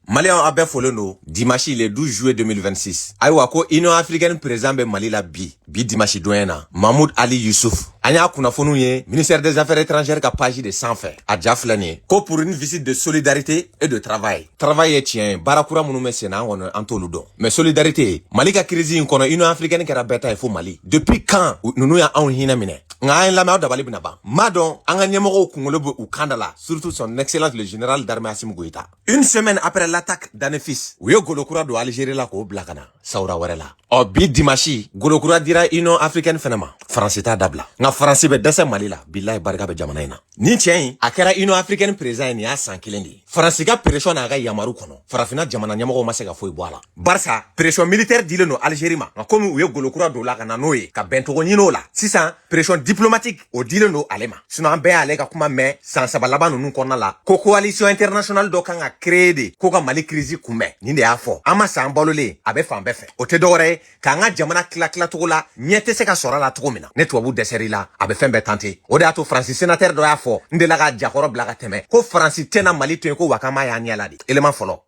Maliyɛnw a bɛɛ folen don dimanche le 12 juillet 2026 ayiwa ko union africaine président bɛ mali la bi bi dimanche don in na Mahmoud Ali Youssouf an y'a kunnafoniw ye ministère des affaires étrangères ka page de sanfɛ a ja filɛ nin ye ko pour une visite de solidarité et de travail travail ye tiɲɛ ye baara kura minnu bɛ sen na an kɔni an t'olu dɔn mais solidarité mali ka crise in kɔnɔ union africaine kɛra bɛɛ ta ye fo mali depuis quand ninnu y'anw hinɛ minɛ nka an lamɛn aw dabali bɛna ban m'a dɔn an ka ɲɛmɔgɔw kunkolo bɛ u kan da la surtout son excellence le général d'armée Assimi Goïta une semaine après l'attaque d'Anefis u ye golo kura don Algérie la k'o bila ka na sawura wɛrɛ la ɔ bi dimanche golo kura dira Union africaine fana ma France t'a dabila nka France bɛ dɛsɛ Mali la bilahi barika bɛ jamana in na nin cɛ in a kɛra Union africaine président ye nin y'a san kelen de ye France ka pression n'a ka yamaru kɔnɔ farafinna jamana ɲɛmɔgɔw ma se ka foyi bɔ a la barisa pression militaire dilen don algérie ma nka komi u ye golo kura don a la ka na n'o ye ka bɛncogo ɲini o la sisan pression diplomatique o dilen don ale ma sinon an bɛɛ y'ale ka kuma mɛn san saba laban ninnu kɔnɔna la ko coalition internationale dɔ kan ka créer de ko ka mali crise kunbɛn nin de y'a fɔ an ma sa an balolen a bɛ fan bɛɛ fɛ o tɛ dɔwɛrɛ ye k'an ka jamana tila tila cogo la ɲɛ tɛ se ka sɔrɔ a la cogo min na ni tubabu dɛsɛr'i la a bɛ fɛn bɛɛ tenter o de y'a to faransi sénateur dɔ y'a fɔ n delila k'a ja kɔrɔ bila ka tɛmɛ ko faransi tɛna mali to yen ko wa k'an b'a y'an ɲɛ la de élément fɔlɔ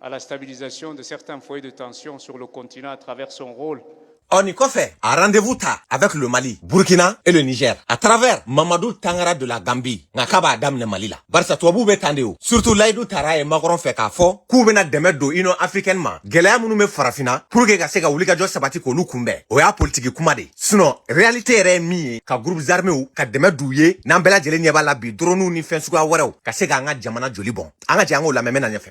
à la stabilisation de certains foyers de tension sur le continent à travers son rôle ɔ nin kɔfɛ a rendez-vous ta avec le mali burkina et le niger à travers Mamadou Tangara de la gambie nka k'a b'a daminɛ mali la barisa tubabuw bɛ tan de o surtout layidu tar'a ye macron fɛ k'a fɔ k'u bɛna dɛmɛ don union africaine ma gɛlɛya minnu bɛ farafinna pour que ka se ka wulikajɔ sabati k'olu kunbɛn o y'a politiki kuma de sinon réalité yɛrɛ ye min ye ka groupes arméw ka dɛmɛ d'u ye n'an bɛɛ lajɛlen ɲɛ b'a la bi droniw ni fɛn suguya wɛrɛw ka se k'an ka jamana joli bɔn an ka jɛ an k'o lamɛn n bɛ na ɲɛfɛ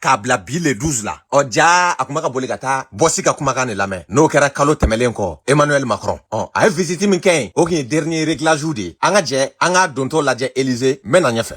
k'a bila bi le 12 la ɔ jaa a tun bɛ ka boli ka taa bɔsi ka kumakan de lamɛn n'o kɛra kalo tɛmɛlen kɔ emmanuel macron ɔ a ye visiti min kɛ yen o tun ye dernier réglage de ye an ka jɛ an k'a dontɔ lajɛ élysée n bɛ na ɲɛfɛ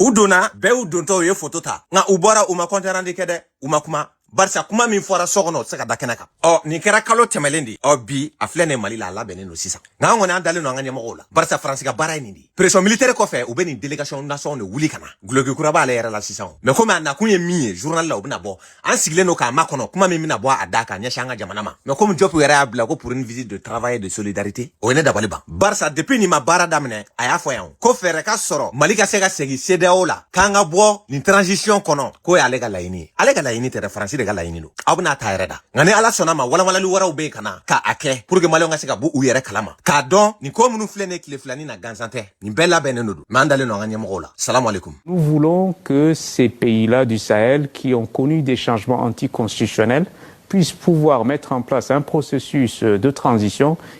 u donna bɛɛ y'u dontɔ u ye foto ta nka u bɔra u ma compte rendu kɛ dɛ u ma kuma barisa kuma min fɔra so kɔnɔ o tɛ se ka da kɛnɛ kan ɔ nin kɛra kalo tɛmɛlen de ɔ bi a filɛ nin mali la a labɛnnen don sisan nka an kɔni an dalen don an ka ɲɛmɔgɔw la barisa faransi ka baara ye nin de ye pression militaire kɔfɛ u bɛ nin délégation nasɔn de wuli ka na guloki kura b'ale yɛrɛ la sisan mais komi a nakun ye min ye journal la o bɛna bɔ an sigilen don k'a makɔnɔ kuma min bɛna bɔ a da ka ɲɛsin an ka jamana ma mais komi Diop yɛrɛ y'a bila ko pour une visite de travail et de solidarité o ye ne dabali ban barisa depuis nin ma baara daminɛ a y'a fɔ yan ko fɛɛrɛ ka sɔrɔ mali ka se ka segin cedeao la k'an ka bɔ nin transition kɔnɔ k'o y'ale ka laɲini ye ale ka laɲini tɛ dɛ faransi de ka laɲini don aw bɛna ta yɛrɛ da nka ni ala sɔnna ma walawalali wɛrɛw bɛ yen ka na ka a kɛ pour que maliyɛnw ka se ka bɔ u yɛrɛ kalama k'a dɔn nin ko minnu filɛ nin ye tile fila nin na gansan tɛ nin bɛɛ labɛnnen don mais an dalen don an ka ɲɛmɔgɔw la salamu alaikum nous voulons que ces pays là du sahel qui ont connu des changements anticonstitutionnels puissent pouvoir mettre en place un processus de transition